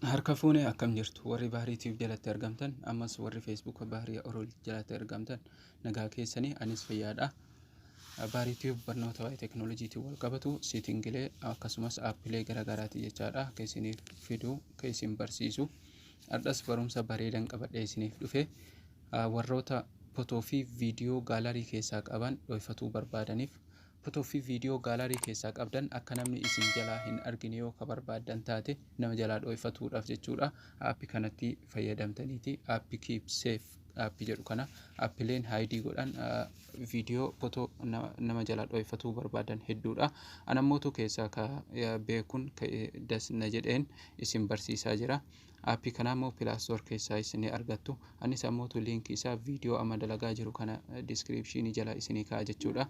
Harka fuune akkam jirtu warri Bahrii Tube jalatti argamtan ammas warri Facebook Bahrii Orol jalatti argamtan nagaa keessanii anis fayyaadha. Bahrii Tube barnoota waa'ee teekinooloojiitiin wal qabatu siitingilee akkasumas aappilee garaagaraati jechaadha akka isiniif fidu kan isin barsiisu. Har'as barumsa bareedan qabadhee isiniif dhufe. Warroota Photo fi Video Gallery keessaa qaban dhooyfatuu barbaadaniif, Photo fi Video Gallery keessaa qabdan akka namni isin jalaa hin argine yoo ka barbaaddan taate, nama jalaa dhooyfatuudhaaf jechuudha, App kanatti fayyadamtaniiti, App Keep Safe App jedhu kana Appleen hide godhan, Video, Photo nama jalaa dhooyfatuu barbaadan hedduudha. Anammootu keessaa ka beekun ka das na jedheen isin barsiisaa jira. App kana ammoo Play Store keessaa isinii argattu. Anis ammootu link isaa video amma dalagaa jiru kana description jala isinii kaa'a jechuudha.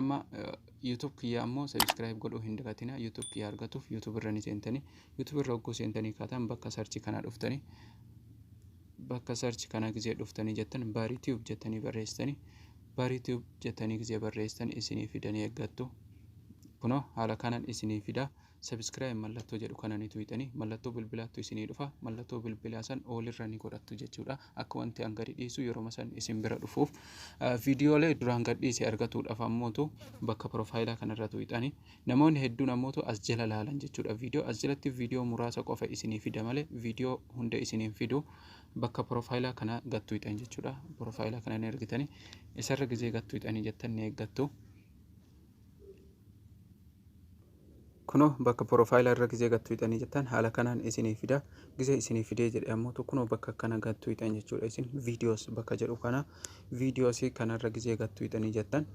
Amma YouTube kiyya ammoo subscribe godhuu hin dagatina. YouTube kiyya argatuuf YouTube irra ni seentanii. YouTube irra hogguu seentanii kaatan bakka search kana dhuftanii bakka search kana gizee dhuftanii jettan Bari Tube jettanii barreessitanii Bari Tube jettanii gizee barreessitan isinii fidanii eeggattu. Kunoo haala kanan isinii fidaa. Subscribe mallattoo jedhu kana ni tuyxani mallattoo bilbilaattu isinii dhufa mallattoo bilbilaa san all irra ni godhattu jechuudha akka wanti an gadi dhiisu yeroma san isin bira dhufuuf viidiyoolee duraan gad dhiise argatuudhaaf ammootu bakka profaayilaa kanarra tuyxani namoonni hedduun ammootu as jala laalan jechuudha viidiyoo as jalatti viidiyoo muraasa qofa isinii fida malee viidiyoo hunda isiniin fidu bakka profaayilaa kana gad tuyxan jechuudha profaayilaa kana ni argitani isarra gizee gad tuyxanii jettan ni eeggattu Kunoo bakka profile irra gizee gad tuyxanii jettan haala kanaan isinii fida. Gizee isinii fidee jedhe ammoo kunoo bakka akkana gad tuyxan jechuudha. Isin videos bakka jedhu kana videos kanarra gizee gad tuyxanii jettan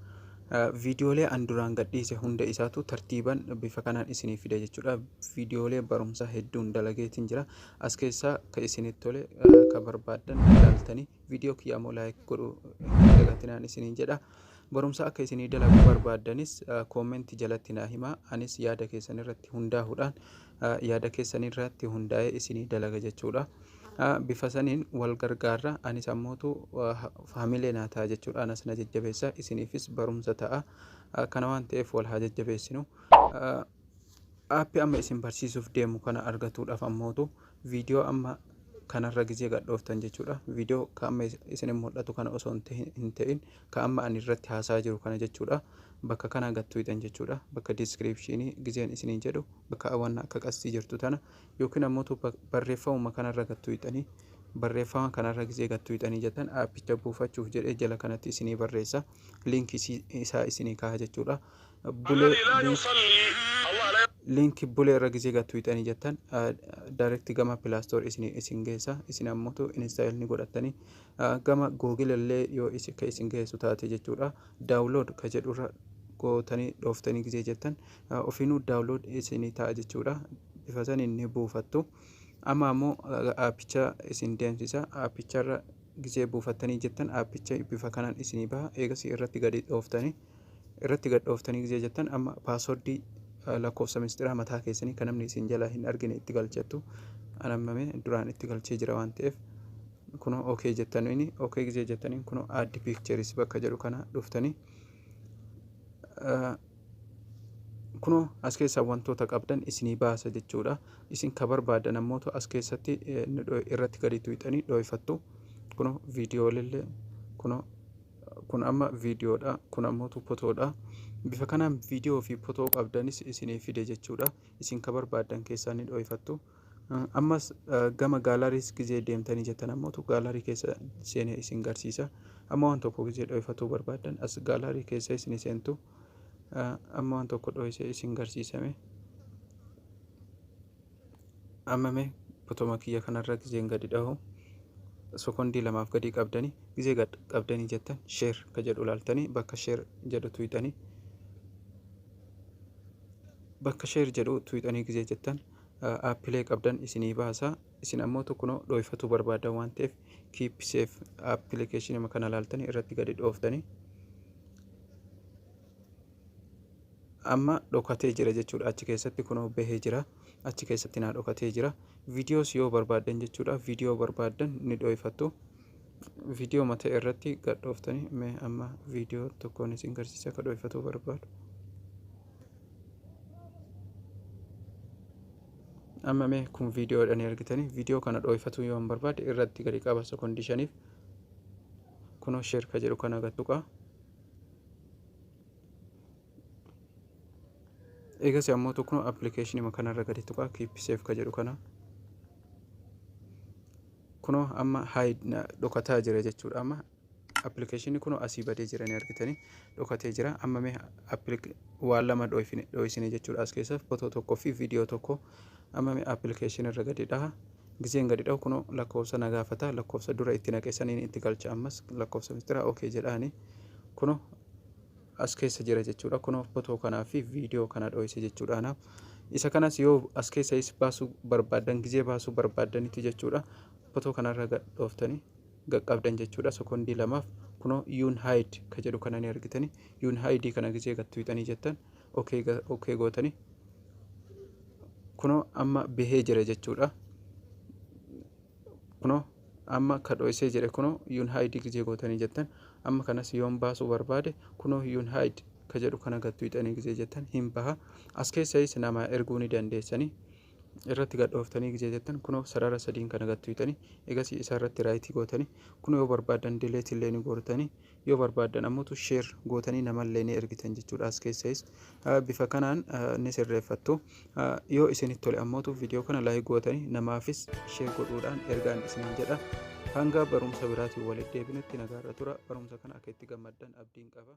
viidiyoolee an duraan gadhiise hunda isaatu tartiiban bifa kanaan isinii fida jechuudha. Viidiyoolee barumsaa hedduun dalageetiin jira. As keessaa ka isinitti tole ka barbaaddan ilaaltanii Viidiyoo kiyyaa immoo laayik godhu hin dagatinaan isiniin jedha. Barumsa akka isinii dalagu barbaaddanis koommenti jalatti naa himaa. Anis yaada keessan irratti hundaa'uudhaan yaada keessan irratti hundaa'ee isinii dalaga jechuudha. Bifa saniin wal gargaarra anis ammootu faamilee naa ta'a jechuudha. Anas na jajjabeessa isiniifis barumsa ta'a. Kana waan ta'eef wal haa jajjabeessinu. App amma isin barsiisuuf deemu kana argatuudhaaf ammootu viidiyoo amma kanarra gizee gadhooftan jechuudha. Viidiyoo ka amma isin mul'atu kana osoo hin ta'in ka amma ani irratti haasaa jiru kana jechuudha. Bakka kana gattuutan jechuudha. Bakka diiskiriipshinii gizeen isiniin jedhu bakka awwanna akka qastii jirtu tana yookiin ammootu barreeffamuma kanarra gattuutanii barreeffama kanarra gizee gattuutanii jettan aappicha buufachuuf jedhee jala kanatti isinii barreessa liinkii isaa isinii kaha jechuudha. bulee link bulee irra gizee gattu hixanii jettan direct gama play store isin isin geessa isin ammutu install ni godhattanii gama google illee yoo isin ka isin geessu taate jechuudha download ka jedhu irra gootanii dhooftanii gizee jettan ofiinuu download isin ta'a jechuudha bifa saniin ni buufattu amma ammoo aappicha isin deemsisa aappicharra gizee buufattanii jettan aappicha bifa kanaan isinii baha eegasii irratti gadi dhooftanii irratti gad dhooftanii gizee jettan amma paaswordii lakkoofsa mistiraa mataa keessanii kan namni isin jalaa hin argine itti galchattu anammame duraan itti galchee jira waan ta'eef kunoo okee jettaniin okee gizee jettaniin kunoo aaddi piikcheris bakka jedhu kana dhuftanii kunoo as keessaa wantoota qabdan isinii baasa jechuudha isin ka barbaadan ammootu as keessatti irratti gadi tuyxanii dhooyfattu kunoo viidiyoolillee kunoo kun amma viidiyoodha kun ammootu potoodha bifa kanaan viidiyoo fi potoo qabdanis isiniif fide jechuudha isin ka barbaaddan keessaa ni dhooyfattu ammas gama gaalariis gizee deemtanii jettan ammootu gaalarii keessa seenee isin garsiisa amma waan tokko gizee dhooyfatuu barbaaddan as gaalarii keessa isin seentu amma waan tokko dhooysee isin garsiisame Ammame botoma kiyya kanarra gizeen gadi dhahu sokondii lamaaf gadii qabdanii gizee gad qabdanii jettan sheer ka jedhu laaltanii bakka sheer jedhu tuyxanii bakka sheer jedhu tuyxanii gizee jettan aappilee qabdan isinii baasa isin ammoo tokkonoo dhooyfatuu barbaada waan ta'eef kiippiseef appilikeeshinima kana laaltanii irratti gadi dhooftanii amma dhokatee jira jechuudha achi keessatti kunoo bahee jira achi keessatti naa dhokatee jira viidiyoos yoo barbaaddan jechuudha viidiyoo barbaaddan ni dhooyfattu viidiyoo mata irratti gadhooftanii mee amma viidiyoo tokkoon isin garsiisa akka dhooyfatuu barbaadu amma mee kun viidiyoodhaan argitanii viidiyoo kana dhooyfatuu yoo hin barbaade irratti gadi qaba sekoondishaniif kunoo sheerka jedhu kana gattuqaa eegas ammoo tokko appilikeeshinii kanarra gadi tuqaa keep safe ka jedhu kana kunoo amma hide dhokataa jira jechuudha amma appilikeeshinii kunoo asii badee jira ni argitanii dhokatee jira amma mee waan lama dho'isine jechuudha as keessa footoo tokkoo fi viidiyoo tokko amma mee appilikeeshinii irra gadi dhaha Gizeen gadi dhahu kuno lakkoofsa na gaafata lakkoofsa dura itti naqe saniin itti galcha ammas lakkoofsa mistira ok jedhaani kuno as keessa jira jechuudha kuno fotoo kanaa fi viidiyoo kana dho'ise jechuudha anaaf isa kanas yoo as keessa is baasuu barbaadan gizee baasuu barbaadanitti jechuudha fotoo kanarra gadhooftanii gaqqabdan jechuudha sekondii lamaaf kunoo yuun haayid ka jedhu kana ni argitani yuun haayidii kana gisee gattuuxanii jettan okee ga- okee gootani kunoo amma bahee jira jechuudha kunoo amma ka dho'isee jire kunoo yuun haayidii gisee gootanii jettan amma kanas yoon baasuu barbaade kunoo yuun haayid ka jedhu kana gattuuxanii gisee jettan hin baha as keessayis namaa erguu ni dandeessanii irratti gad dhooftanii gizee jettan kunoo sarara sadiin kana gad tuyxanii egasii isa irratti raayitii gootanii kunoo yoo barbaaddan dileetii illee ni gootanii yoo barbaaddan ammoo sheer gootanii namallee ni ergitan jechuudha as keessayis bifa kanaan ni sirreeffattu yoo isinitti tole ammoo viidiyoo kana laayik gootanii namaafis sheer godhuudhaan ergaan isiniin jedha hanga barumsa biraatiin walitti deebinutti nagaarra tura barumsa kana akka itti gammaddan abdiin qaba.